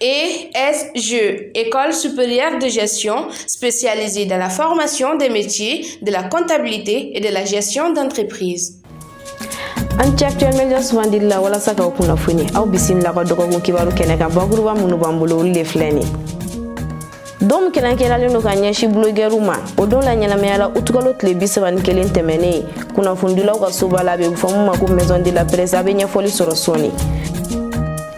ESG, École supérieure de gestion spécialisée dans la formation des métiers, de la comptabilité et de la gestion d'entreprise. aw ni ce actuel media sugandi la walasa k'aw kunnafoni aw bisimila an ka dɔgɔkun kibaru kɛnɛ kan bakuruba minnu b'an bolo olu de filɛ nin ye don min kɛrɛnkɛrɛnlen don ka ɲɛsin bulogɛriw ma o don laɲɛnamayala utukalo tile bi saba ni kelen tɛmɛnen kunnafonidilaw ka soba la a bɛ fɔ min ma ko maison de la presse a bɛ ɲɛfɔli sɔrɔ sɔɔni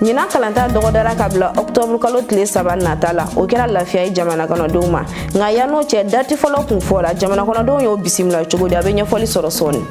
ɲinan kalanta dɔgɔdara ka bila ɔktɔburu kalo tile saba nata la o kɛra lafiya ye jamanakɔnɔdenw ma nka yann'o cɛ dati fɔlɔ kun fɔra jamanakɔnɔdenw y'o bisimila cogo di a bɛ ɲɛfɔli sɔrɔ sɔɔni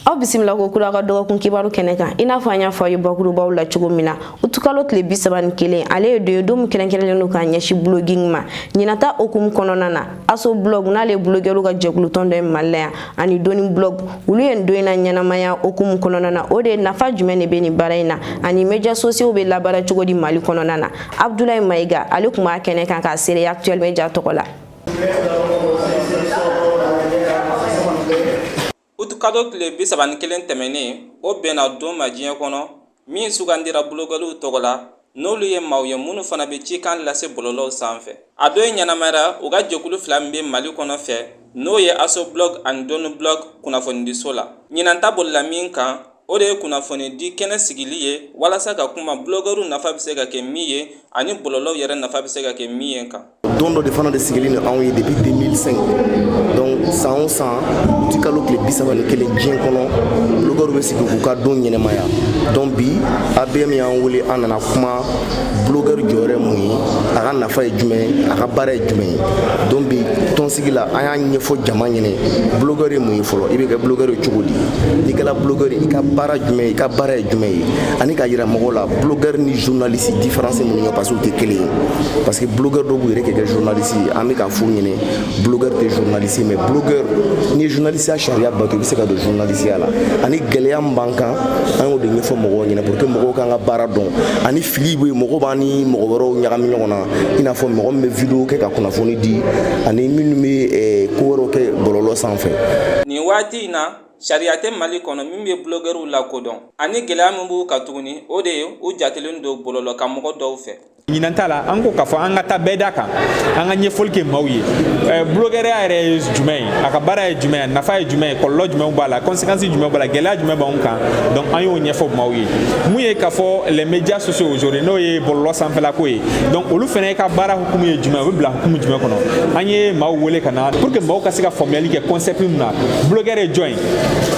aw bisimila kokura an ka dɔgɔkun kibaru kɛnɛ kan i n'a fɔ an y'a fɔ a ye bakurubaw la cogo min na utukalo tile bi saba ni kelen ale ye don ye don min kɛrɛnkɛrɛnlen don ka ɲɛsin buloging ma ɲinan ta hukumu kɔnɔna na aso blɔg n'ale ye bulogɛriw ka jɛkulutɔn dɔ ye mali la yan ani doni blɔg olu ye nin don in naɲɛnamaya o hukumu kɔnɔna na o de ye nafa jumɛn de bɛ nin baara in na ani médias sociaux bɛ labaara cogo di mali kɔnɔna na abdulayi mayiga ale tun b'a kɛnɛ kan k'a seereya actuel media tɔgɔ la utukalo tile bi saba ni kelen tɛmɛnen o bɛnna don ma diɲɛ kɔnɔ min sugandira bulogɛriw tɔgɔ la n'olu ye maaw ye minnu fana bɛ cikan lase bɔlɔlɔw sanfɛ a don ɲɛnamayara u ka jɛkulu fila min bɛ mali kɔnɔ fɛ n'o ye aso blog ani doni blog kunnafonidiso la ɲinan ta bolila min kan o de ye kunnafoni di kɛnɛ sigili ye walasa ka kuma bulogɛriw nafa bɛ se ka kɛ min ye ani bɔlɔlɔw yɛrɛ nafa bɛ se ka kɛ min ye kan don dɔ de fana de sigilen don anw ye depuis 2005 donc san o san uti kalo tile bi saba ni kelen diɲɛ kɔnɔ bulogɛriw bɛ sigi k'u ka don ɲɛnamaya donc bi ABM y'an wele an nana kuma bulogɛri jɔyɔrɔ ye mun ye a ka nafa ye jumɛn a ka baara ye jumɛn ye donc bi tɔn sigi la an y'a ɲɛfɔ jama ɲɛnɛ bulogɛri ye mun ye fɔlɔ i bɛ kɛ bulogɛri ye cogo di n'i kɛra bulogɛri i ka baara jumɛn i ka baara ye jumɛn ye ani k'a yira mɔgɔw la bulogɛri ni journaliste différence mun ye parce que u tɛ kelen ye parce que bulogɛri dɔw b'u yɛrɛ kɛ kɛ journaliste ye an bɛ k'a f'u ɲɛnɛ bulogɛri tɛ journaliste ye mais bulogɛri n'i ye journaliste ya sariya bato i bɛ se ka don journaliste ya la ani gɛlɛya min b'an kan an y'o de ɲɛfɔ mɔgɔw ɲɛnɛ pour que mɔgɔw k'an ka baara dɔn ani fili bɛ yen mɔgɔw b'an ni mɔgɔ wɛrɛw ɲagami ɲɔgɔn na i n'a fɔ mɔgɔ min bɛ video kɛ ka kunnafoni di ani minnu bɛ eh, ko wɛrɛw kɛ bɔlɔlɔ sanfɛ nin waati in na sariya tɛ mali kɔnɔ min bɛ bulogɛriw lakodɔn ani gɛlɛya min b'u kan tuguni o de ye u jatelen don bɔlɔlɔ kan mɔgɔ dɔw fɛ ɲinan ta la an ko k'a fɔ an ka taa bɛɛ da kan an ka ɲɛfɔli kɛ maaw ye eh, bulogɛriya yɛrɛ ye jumɛn ye a ka baara ye jumɛn ye nafa ye jumɛn ye kɔlɔlɔ jumɛn b'a la conséquence jumɛn b'a la gɛlɛya jumɛn b'anw kan donc an y'o ɲɛfɔ maaw ye mun ye k'a fɔ les médias sociaux aujourd'hui n'o ye bɔlɔlɔ sanfɛlako ye donc olu fana ka baara hukumu ye jumɛn o bɛ bila hukumu jumɛn kɔnɔ an ye maaw wele ka na pour que maaw ka se ka faamuyali kɛ concept min na blogueur ye jɔn ye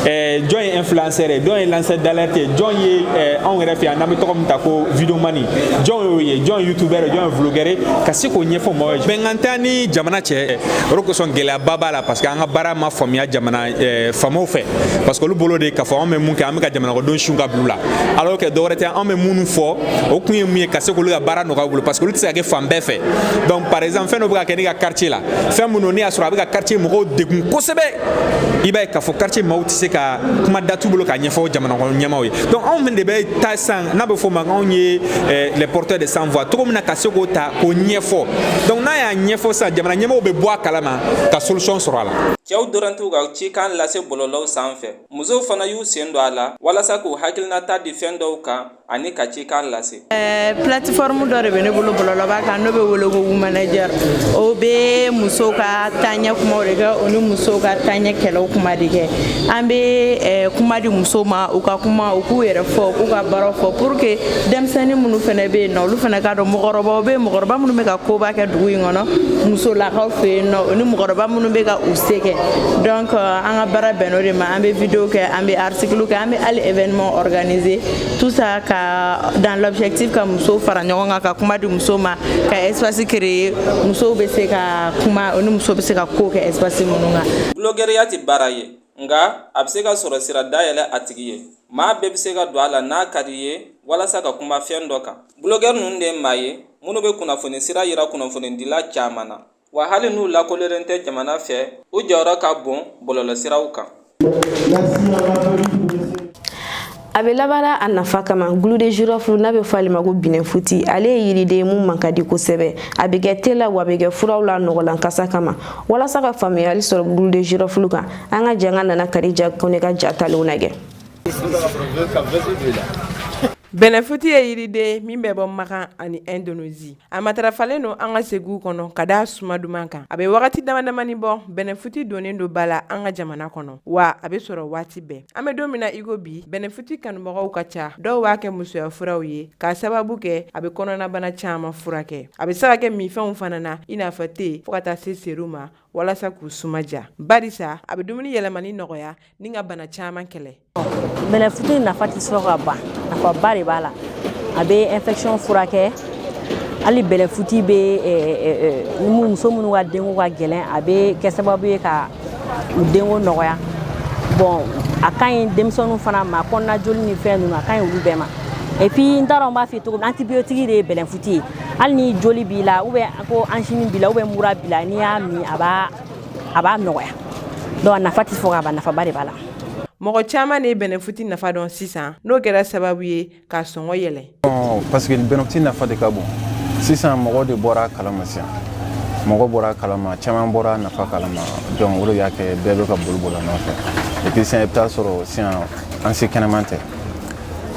eh, jɔn ye influenceur ye jɔn ye lanceur d'alerte ye jɔn ye eh, anw yɛrɛ fɛ yan n'an bɛ tɔgɔ min ta ko videomani jɔn y'o ye jɔn ye youtubeur ye jɔn ye vlogueur ye ka se k'o ɲɛfɔ maaw ye bɛnkan tɛ ni jamana cɛ o de kosɔn gɛlɛyaba b'a la parce que an ka baara ma faamuya jamana Eh, faamaw fɛ parce que olu bolo de k'a fɔ anw bɛ mun kɛ an bɛ ka jamanakɔnɔdenw su ka bila u la alors que dɔwɛrɛ tɛ anw bɛ minnu fɔ o kun ye mun ye ka se k'olu ka baara nɔgɔya u bolo parce que olu tɛ se ka kɛ fan bɛɛ fɛ donc par exemple fɛn dɔ bɛ ka kɛ ne ka quartier la fɛn min don n'i y'a sɔrɔ a bɛ ka quartier mɔgɔw degun kosɛbɛ i b'a ye k'a fɔ quartier maaw tɛ se ka kuma da t'u bolo k'a ɲɛfɔ jamanakɔnɔ ɲɛmaaw ye donc anw de bɛ taa sisan n'a bɛ fɔ o ma anw ye eh, les porteurs de sans voix cogo min na ka se k'o ta k'o ɲɛfɔ donc n'an y'a ɲɛfɔ sisan jamana ɲɛmaaw bɛ bɔ a kalama ka solution sɔrɔ a la Cɛw dɔrɔn t'u ka cikan lase bɔlɔlɔw sanfɛ musow fana y'u sen don a la walasa k'u hakilinata di fɛn dɔw kan ani ka cikan lase eh, plateforme dɔ de bɛ ne bolo bɔlɔlɔba kan n'o bɛ wele ko womanager o bɛ muso ka taaɲɛ kumaw de kɛ o ni musow ka taaɲɛ kɛlɛw kuma de kɛ an bɛ eh, kuma di musow ma u ka kuma u k'u yɛrɛ fɔ k'u ka baaraw fɔ pour que denmisɛnnin minnu fana bɛ yen nɔ olu fana k'a dɔn mɔgɔkɔrɔbaw bɛ yen mɔgɔkɔrɔba minnu bɛ ka koba kɛ dugu in kɔnɔ musolakaw fɛ yen nɔ o ni mɔgɔkɔrɔba minnu bɛ ka u se kɛ donc euh, an ka baara bɛnn'o de ma an bɛ video kɛ an bɛ article kɛ an bɛ hali événement organiser tout ça ka dans l'objectif ka musow fara ɲɔgɔn kan ka kuma di musow ma ka espace créer musow bɛ se ka kuma o ni musow bɛ se ka ko kɛ espace minnu kan. Bulogɛriya tɛ baara ye nka a bɛ se ka sɔrɔ sira dayɛlɛ a tigi ye maa bɛɛ bɛ se ka don a la n'a ka d'i ye walasa ka kuma fɛn dɔ kan bulogɛri ninnu de ye maa ye minnu bɛ kunnafoni sira yira kunnafonidila caman na wa hali n'u lakodɔnnen tɛ jamana fɛ u jɔyɔrɔ ka bon bɔlɔlɔsiraw kan a bɛ labaara a nafa kama clou de girofle n'a bɛ fɔ ale ma ko bɛnɛfuti ale ye yiriden ye min man ka di kosɛbɛ a bɛ kɛ te la wa a bɛ kɛ furaw la nɔgɔlan kasa kama walasa ka faamuyali sɔrɔ clou de girofle kan an ka jɛ ka Nana Kadija Kone ka ja talenw lajɛ bɛnɛfuti ye yiriden min bɛ bɔ makan ani Indonésie a matarafalen don an ka suguw kɔnɔ ka d'a suma duman kan a bɛ wagati damadamani bɔ bɛnɛfuti donnen don ba la an ka jamana kɔnɔ wa a bɛ sɔrɔ waati bɛɛ an bɛ don min na iko bi bɛnɛfuti kanubagaw ka ca dɔw b'a kɛ musoya furaw ye k'a sababu kɛ a bɛ kɔnɔnabana caman furakɛ a bɛ se ka kɛ minfɛnw fana na i n'a fɔ te fo ka taa se seri ma walasa k'u suma diya barisa a bɛ dumuni yɛlɛmani nɔgɔya ni ka bana caman kɛlɛ Bɛlɛfuti nafa tɛ sɔrɔ ka ban nafaba de b'a la a bɛ infection furakɛ hali bɛlɛfuti bɛ muso minnu ka denko ka gɛlɛn a bɛ kɛ sababu ye ka u denko nɔgɔya bon a ka ɲi denmisɛnninw fana ma kɔnɔna joli ni fɛn ninnu a ka ɲi olu bɛɛ ma et puis n t'a dɔn n b'a f'i ye cogo min antibiotique de ye bɛlɛfuti ye hali ni joli b'i la ou bien ko angine b'i la ou bien mura b'i la n'i y'a min a b'a a b'a nɔgɔya donc a nafa tɛ fɔ ka ban nafaba de b'a la mɔgɔ caman de ye bɛnɛfuti nafa dɔn sisan n'o kɛra sababu ye k'a sɔngɔ yɛlɛn parce que bɛnɛfuti nafa de ka bon sisan mɔgɔw de bɔra a kalama sisan mɔgɔ bɔra a kalama caman bɔra a nafa kalama donc o de y'a kɛ bɛɛ bɛ ka boli boli a nɔfɛ et puis sisan i bɛ t'a sɔrɔ sisan an si kɛnɛman tɛ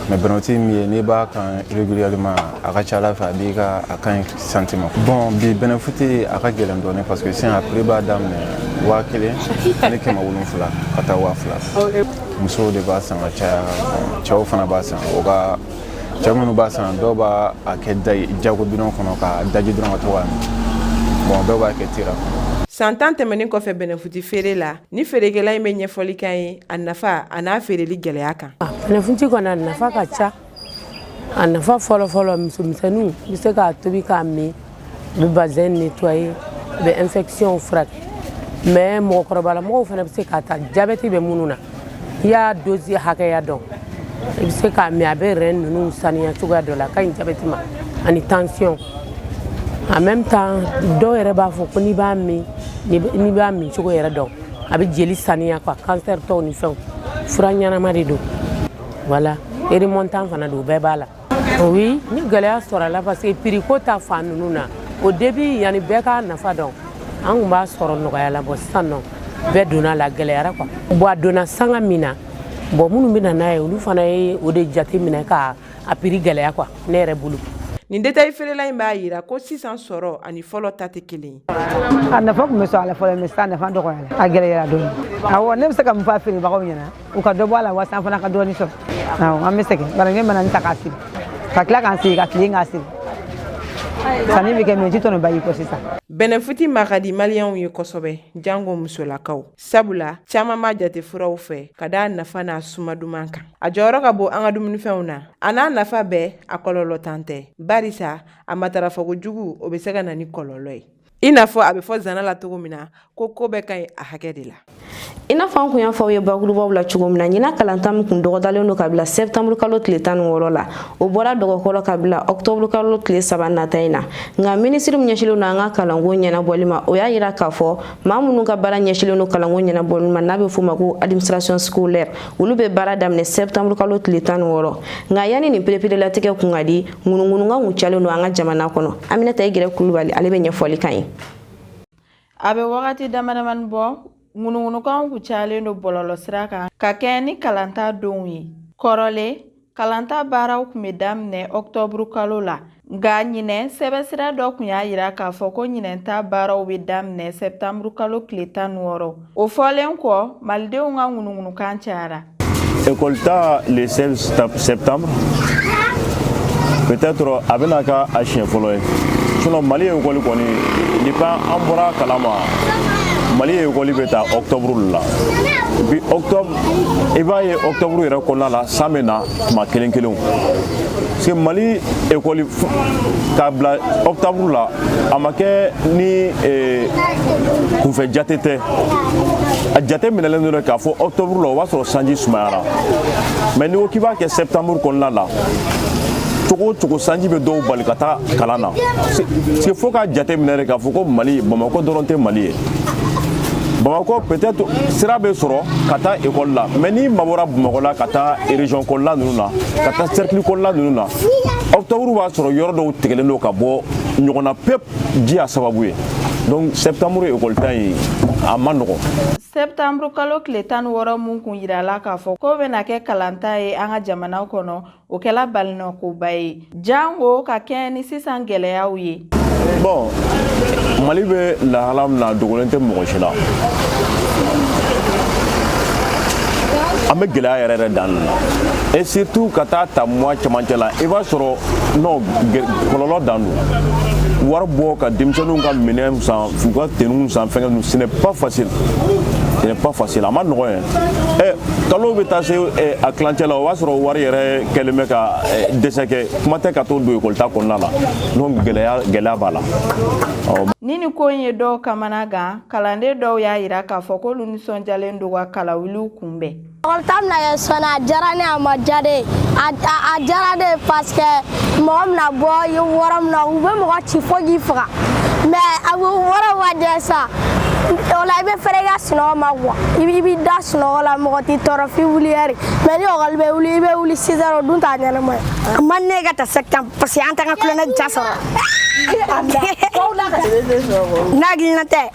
mais bɛnɛfuti min ye n'i b'a kan régulièrement a ka ca a la fɛ a b'i ka a ka ɲi santé ma bon bi bɛnɛfuti a ka gɛlɛn dɔɔni parce que sisan a prix b'a daminɛ waa kelen ni kɛmɛ wolonfila ka taa waa fila musow de b'a san ka caya cɛw fana b'a san nka cɛ minnu b'a san dɔw b'a kɛ jago bidon kɔnɔ k'a daji dɔrɔn ka to k'a min bon dɔw b'a kɛ tira kɔnɔ san tan tɛmɛnin kɔfɛ bɛnɛfuti feere la Nin feerekɛla in bɛ ɲɛfɔli k'an ye a nafa a n'a feereli gɛlɛya kan. Bɛnɛfunti kɔni a nafa ka ca a nafa fɔlɔfɔlɔ musomisɛnninw bɛ se k'a tobi k'a min u bɛ vagin nettoyer u bɛ infection furakɛ mais mɔgɔkɔrɔbalamɔgɔw fana bɛ se k'a ta jabɛti bɛ minnu na i y'a dose hakɛya dɔn i bɛ se k'a min a bɛ rein ninnu saniya cogoya dɔ la a ka ɲi jabɛti ma ani tension en même temps dɔw yɛrɛ b'a fɔ ko n'i b'a min n'i b'a min cogo yɛrɛ dɔn a bɛ jeli saniya quoi cancertɔw ni fɛnw fura ɲɛnama de don voilà remontant fana don bɛɛ b'a la oui ni gɛlɛya sɔrɔ a la parce que prix ko ta fan ninnu na au début yanni bɛɛ k'a nafa dɔn an tun b'a sɔrɔ nɔgɔya la bon sisan ni bɛɛ donn'a la a gɛlɛyara quoi bon a donna sanga min na bon minnu bɛ na n'a ye olu fana ye o de jate minɛ ka a prix gɛlɛya quoi ne yɛrɛ bolo nin détail feerela in b'a yira ko sisan sɔrɔ ani fɔlɔ ta tɛ kelen ye a nafa tun bɛ sɔrɔ a la fɔlɔ mais sisan nafa dɔgɔyara a gɛlɛyara dɔɔni awɔ ne bɛ se ka mun fɔ a feerebagaw ɲɛna u ka dɔ bɔ a la walasa an fana ka dɔɔni sɔrɔ awɔ an bɛ sɛgɛn bari ne mana nin ta k'a siri ka tila k'an sigi ka tilen k'a siri sanni bɛ kɛ mais ji tɔnɔba y'i kɔ sisan bɛnɛfuti ma ka di maliyɛnw ye kosɛbɛ jango musolakaw sabula caaman b'a jate furaw fɛ ka da a nafa n'a suma duman kan a jɔyɔrɔ ka bon an ka dumunifɛnw na a n'a nafa bɛɛ a kɔlɔlɔntan tɛ barisa a matarafa kojugu o be se ka na ni kɔlɔlɔ ye i n'a fɔ a be fɔ zana la cogo min na ko koo bɛɛ ka ɲi a hakɛ de la i n'a fɔ an tun y'a fɔ aw ye bakurubaw la cogo min na ɲina kalanta min tun dɔgɔdalen don ka bila sɛptanburu kalo tile tan ni wɔɔrɔ la o bɔra a dɔgɔ kɔrɔ k'a bila ɔktɔburu kalo tile saba nata in na nka minisiri min ɲɛsilen don an ka kalanko ɲɛnabɔli ma o y'a yira k'a fɔ maa minnu ka baara ɲɛsilen don kalanko ɲɛnabɔli ma n'a bɛ f'o ma ko administration scolaire olu bɛ baara daminɛ septembre kalo tile tan ni wɔɔrɔ nka yanni nin pereperelatigɛ kun ka di ŋunuŋunukan kun cayalen don an ka jamana kɔnɔ aminata igirɛ kulubali ale bɛ ɲɛfɔli kan ye a bɛ wagati damadamani bɔ ŋunuŋunukanw kun cayalen don bɔlɔlɔ sira kan ka kɛɲɛ ni kalanta donw ye kɔrɔlen Kalanta baaraw kun bɛ daminɛ ɔktɔburu kalo la nka ɲinɛ sɛbɛsira dɔ kun y'a yira k'a fɔ ko ɲinɛta baaraw bɛ daminɛ sɛtanburu kalo tile tan ni wɔɔrɔ o fɔlen kɔ malidenw ka ŋunuŋunukan cayara ekɔlita le seize septembre peut-être a bɛna kɛ a siɲɛ fɔlɔ ye sinon mali ekɔli kɔni depuis an bɔra kalama mali ekɔli bɛ ta ɔktɔburu la bi ɔktɔburu i b'a ye octobre yɛrɛ kɔnɔna la san bɛ na tuma kelen kelenw parce que mali ekɔli k'a bila octobre la a ma kɛ ni eh, kunfɛ jate tɛ a jate minɛlen don dɛ k'a fɔ octobre la o b'a sɔrɔ sanji sumayara mais n'i ko k'i b'a kɛ septembre kɔnɔna la cogo o cogo sanji bɛ dɔw bali ka taa kalan na parce que fo k'a jate minɛ de k'a fɔ ko mali bamakɔ dɔrɔn tɛ mali ye bamakɔ peut-être sira bɛ sɔrɔ ka taa école la mais n'i mabɔra bamakɔ la ka taa région kɔnɔna ninnu na ka taa cercle kɔnɔna ninnu na octobre b'a sɔrɔ yɔrɔ dɔw tigɛlen don ka bɔ ɲɔgɔn na pep ji y'a sababu ye donc septembre école ta in a man nɔgɔ septembre kalo tile tan ni wɔɔrɔ mun kun yirala k'a fɔ k'o bɛna kɛ kalanta ye an ka jamana kɔnɔ o kɛla balinɔkoba ye jango ka kɛɲɛ ni sisan gɛlɛyaw ye bon mali bɛ lahala min na dogolen tɛ mɔgɔ si la an bɛ gɛlɛya yɛrɛ yɛrɛ dan na et surtout ka taa ta mois cɛmancɛ la i b'a sɔrɔ non kɔlɔlɔ dan don wari bɔ ka denmisɛnninw ka minɛn san u ka teniw san fɛnkɛ ninnu ce n'est pas facile ce n'est pas facile a man nɔgɔn yɛrɛ kalo bɛ taa se eh, a tilancɛ la o b'a sɔrɔ wari yɛrɛ kɛlen bɛ ka eh, dɛsɛ kɛ kuma tɛ ka to don ekɔlita kɔnɔna la donc gɛlɛya gɛlɛya b'a la ni ni ko in ye dɔw kamana gan kalanden dɔw y'a yira k'a fɔ k'olu nisɔndiyalen don ka kalawuliw kunbɛn ekɔlita bɛna kɛ sɔnni a diyara ne a ma diya ne ye a diyara ne ye parce que mɔgɔ bɛna bɔ yɔrɔ min na u bɛ mɔgɔ ci fo k'i faga mais a bɛ yɔrɔ ma diya sa o la i bɛ fɛrɛ i ka sunɔgɔ ma quoi i b'i da sunɔgɔ la mɔgɔ t'i tɔɔrɔ f'i wuli heure mais ni ekɔli bɛ wuli i bɛ wuli six heures o dun t'a ɲɛnama ye a man ne ka ta septembre parce que an t'an ka kulonkɛ diya sɔrɔ n'a hakilina tɛ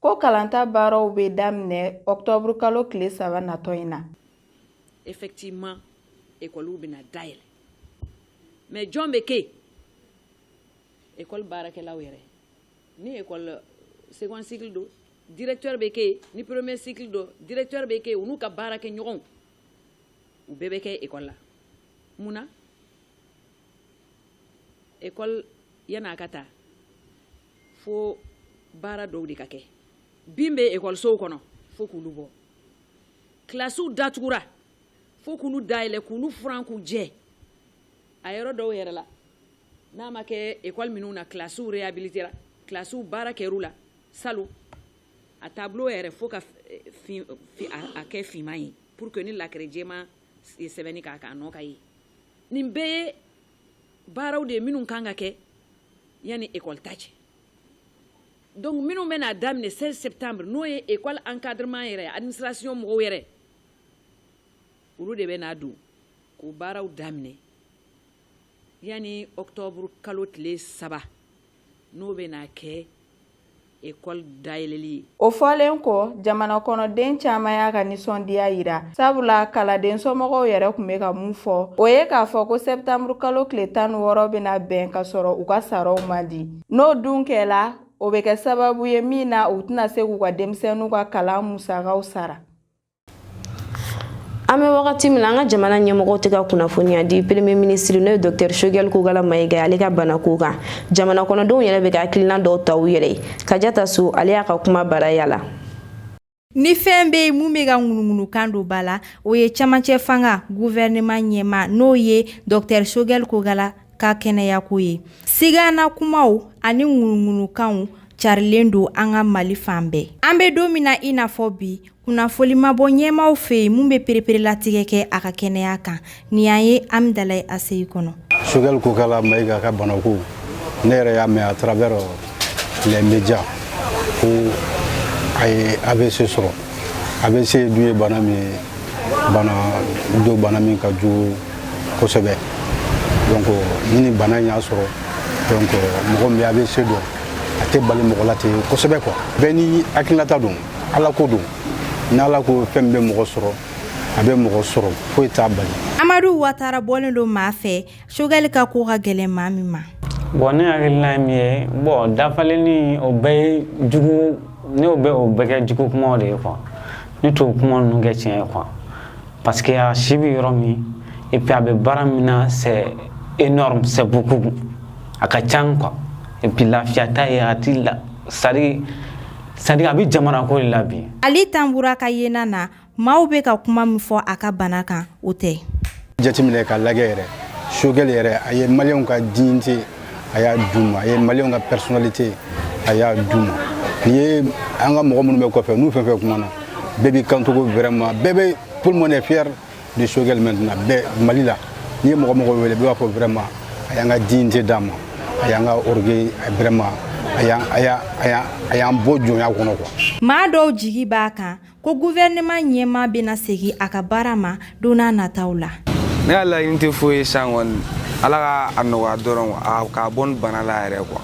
Ko kalanta baaraw bɛ daminɛ octobre kalo tile saba natɔ in na. Effectivement école bɛna dayɛlɛ mais jɔn bɛ kɛ yen? École baarakɛlaw yɛrɛ ni école second cycle don directeur bɛ kɛ yen ni premier cycle don directeur bɛ kɛ yen u n'u ka baarakɛɲɔgɔnw u bɛɛ bɛ kɛ école la mun na? ekɔli yanni a ka ta fo baara dɔw de ka kɛ bin bɛ ekɔlisow kɔnɔ fo k'olu bɔ kilasiw datugura fo k'olu dayɛlɛ k'olu furan k'u jɛ a yɔrɔ dɔw yɛrɛ la n'a ma kɛ ekɔli minnu na kilasiw rehabilitera kilasiw baara kɛr'u la salon a tableau yɛrɛ fo ka eh, fin, fin, a, a kɛ finman ye pour que ni lakɛrɛ jɛman sɛbɛnni k'a kan a nɔ ka ye nin bɛɛ ye baaraw de ye minnu kan ka kɛ yanni ekɔli ta cɛ donc minnu bɛna daminɛ 16 septembre n'o ye ekɔli encadrement yɛrɛ administration mɔgɔw yɛrɛ olu de bɛna don k'o baaraw daminɛ yanni octobre kalo tile saba n'o bɛna kɛ ekɔli dayɛlɛli ye o fɔlen kɔ jamana kɔnɔden caman y'a ka nisɔndiya yira sabula kalanden somɔgɔw yɛrɛ tun bɛ ka mun fɔ o ye k'a fɔ ko sɛtanburu kalo tile tan ni wɔɔrɔ bɛna bɛn k'a sɔrɔ u ka saraw ma di n'o dun kɛla o bɛ kɛ sababu ye min na u tɛna se k'u ka denmisɛnninw ka kalan musakaw sara an bɛ wagati min na an ka jamana ɲɛmɔgɔw tɛ ka kunnafoniya di premier minisiri n'o ye docteur shogɛli kokala mayiga ye ale ka banako kan jamana kɔnɔdenw yɛrɛ bɛ ka hakilina dɔw ta u yɛrɛ ye kajata so ale y'a ka kuma baraya la ni fɛn bɛ yen min bɛ ka ŋunuŋunukan don ba la o ye camancɛ fanga guvɛrɛnɛman ɲɛmaa n'o ye docteur shogɛli kokala ka kɛnɛyako ye sigana kumaw ani ŋunuŋunukanw carilen don an ka mali fan bɛɛ an bɛ don min na i n'a fɔ bi kunnafonili ma bɔ ɲɛmaaw fɛ yen min bɛ pereperelatigɛ kɛ a ka kɛnɛya kan nin y'an ye hamdallaye aci kɔnɔ sogɛli kokala mayiga ka banako ne yɛrɛ y'a mɛn à travers les médias ko a ye avc sɔrɔ avc dun ye bana min ye bana don bana min ka jugu kosɛbɛ donc ni ni bana in y'a sɔrɔ donc mɔgɔ min bɛ avc dɔn a tɛ bali mɔgɔ la ten kosɛbɛ quoi bɛɛ ni hakilinata don ala ko don ni ala ko fɛn bɛ mɔgɔ sɔrɔ a bɛ mɔgɔ sɔrɔ foyi t'a bali amadu watara bɔlen don maa fɛ sogɛli ka ko ka gɛlɛn maa min ma bon ne hakilina ye min ye bon dafalenni o bɛɛ ye jugu ne bɛ o bɛɛ kɛ jugu kumaw de ye quoi ne t'o kuma ninnu kɛ tiɲɛ ye quoi parce que a si bɛ yɔrɔ min et puis a bɛ baara min na c'est énorme c'est beaucoup a ka can quoi et puis lafiya t'a ye a ti la c'est à dire c'est-à-dire a bɛ jamana ko de la bi ali tanbura ka yena na maaw bɛ ka kuma min fɔ a ka bana kan o tɛ jateminɛ ka lajɛ yɛrɛ sogɛli yɛrɛ a ye maliyɛnw ka dignité a y'a d'u ma a ye maliyɛnw ka personnalité a y'a d'u ma n'i ye an ka mɔgɔ minnu bɛ kɔfɛ n'u fɛn fɛn kumana bɛɛ b'i kanto ko vraiment bɛɛ bɛ tout le monde est fier de sogɛli maintenant bɛɛ mali la n'i ye mɔgɔ mɔgɔ wele bɛɛ b'a fɔ vraiment a y'an ka dignité d'an ma a y'an ka orgueil vraiment a y'an a y'a a y'a a y'an bɔ jɔnya kɔnɔ quoi maa dɔw jigi b'a kan ko guvɛrɛnɛman ɲɛmaa bɛna segin a ka baara ma don n'a nataw la ne ka laɲini tɛ foyi ye san kɔni ala ka a nɔgɔya dɔrɔn a k'a bɔ nin bana la yɛrɛ quoi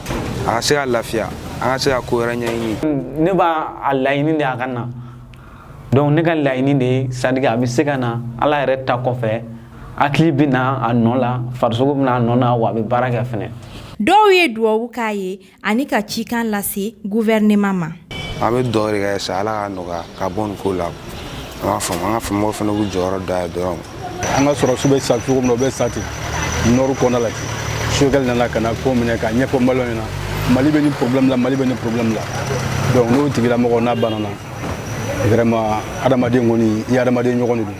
a ka se ka lafiya an ka se ka ko wɛrɛ ɲɛɲini ne b'a laɲini de a ka na donc ne ka laɲini de ye c'est-à-dire que a bɛ se ka na ala yɛrɛ ta kɔfɛ hakili bɛ na a nɔ la farisogo bɛ na a nɔ na wa a bɛ baara kɛ fɛnɛ dɔw ye duwawu k'a ye ani ka cikan lase guvɛrɛnɛman ma an bɛ duwawu de kɛ sa ala ka nɔgɔya ka bɔ nin ko la an b'a faamu an ka faamaw fana b'u jɔyɔrɔ da ye dɔrɔn an ka sɔrɔdasiw bɛ sa cogo min na o bɛ sa ten nord kɔnɔna la ten sogɛli nana ka na ko minɛ ka ɲɛfɔ maliyɛnw ɲɛna mali bɛ ni problème la mali bɛ ni problème la donc n'o tigilamɔgɔ n'a banana vraiment adamaden kɔni i adamaden ɲɔgɔn de don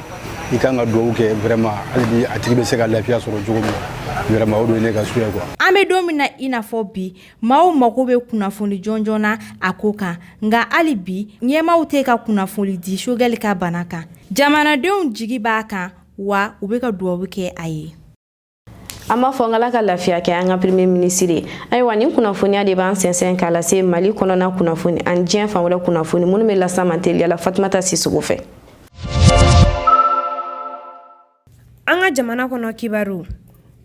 i kan ka duwawu kɛ vraiment hali bi a tigi bɛ se ka lafiya sɔrɔ cogo min na vraiment o de ye ne ka souhait ye quoi. an bɛ don min na i n'a fɔ bi maaw mago bɛ kunnafoni jɔnjɔn na a ko kan nka hali bi ɲɛmaaw tɛ ka kunnafoni di sogɛli ka bana kan jamanadenw jigi b'a kan wa u bɛ ka duwawu kɛ a ye. an b'a fɔ an k'ala ka lafiya kɛ an ka premier minisiri ye ayiwa nin kunnafoniya de b'an sɛnsɛn k'a lase mali kɔnɔna kunnafoni ani diɲɛ fan wɛrɛ kunnafoni minnu bɛ lase an ma teliya la fatumata sisoko fɛ an ka jamana kɔnɔ kibaru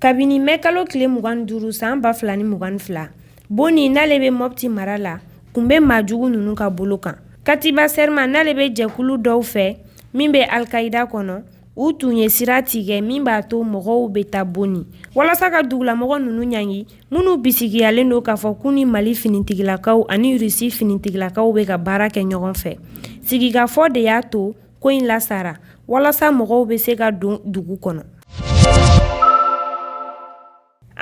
kabini mɛ kalo tile mugan duuru san ba fila ni mugan fila boni n'ale bɛ mɔpti mara la tun bɛ maajugu ninnu ka bolo kan katiba sɛrima n'ale bɛ jɛkulu dɔw fɛ min bɛ alkaida kɔnɔ u tun ye sira tigɛ min b'a to mɔgɔw bɛ taa boni walasa ka dugulamɔgɔ ninnu ɲangi minnu bisigiyalen don k'a fɔ k'u ni mali finitigilakaw ani rusi finitigilakaw bɛ ka baara kɛ ɲɔgɔn fɛ sigikafɔ de y'a to ko in lasara walasa mɔgɔw bɛ se ka don dugu kɔnɔ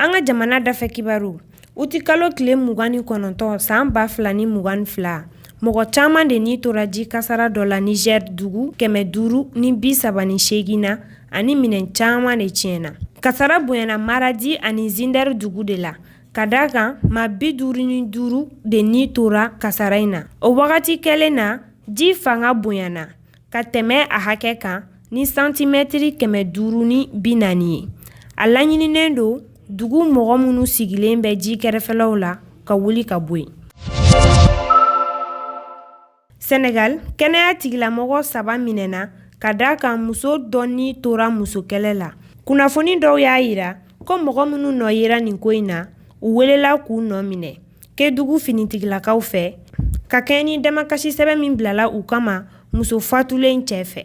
An ka jamana dafɛ kibaru uti kalo tile mugan ni kɔnɔntɔn san ba fila ni mugan fila mɔgɔ caman de ni tora ji kasara dɔ la nizɛri dugu kɛmɛ duuru ni bi saba ni seegin na ani minɛn caman de tiɲɛna kasara bonyana maradi ani zindɛri dugu de la ka d'a kan maa bi duuru ni duuru de ni tora kasara in na o wagati kelen na ji fanga bonyana ka tɛmɛ a hakɛ kan ni santimɛtiri kɛmɛ duuru ni bi naani ye a laɲininen don dugu mɔgɔ minnu sigilen bɛ ji kɛrɛfɛlaw la ka wuli ka bɔ yen sɛnɛgali kɛnɛya tigilamɔgɔ saba minɛna ka da a kan muso dɔ ni tora musokɛlɛ la kunnafoni dɔw y'a yira ko mɔgɔ minnu nɔ yera nin ko in na u welela k'u nɔ minɛ Kedugu finitigilakaw fɛ ka kɛɲɛ ni damakasi sɛbɛn min bilala u kama muso fatulen cɛ fɛ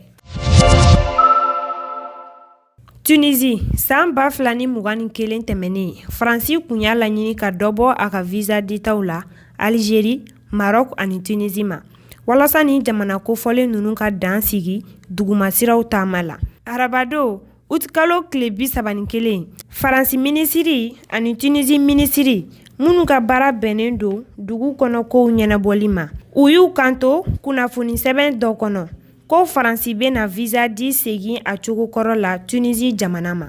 tunisi san ba fila ni mugan ni kelen tɛmɛnen faransi kun y'a laɲini ka dɔ bɔ a ka viza ditaw la alizeri marɔku ani tunisi ma walasa ni jamana kofɔlen ninnu ka dan sigi dugumasiraw taama la arabadon Utikalo tile bi saba ni kelen faransi minisiri ani tunisi minisiri minnu ka baara bɛnnen don dugu kɔnɔ kow ɲɛnabɔli ma u y'u kanto kunnafoni sɛbɛn dɔ kɔnɔ ko faransi bɛna viza di segin a cogo kɔrɔ la tunisi jamana ma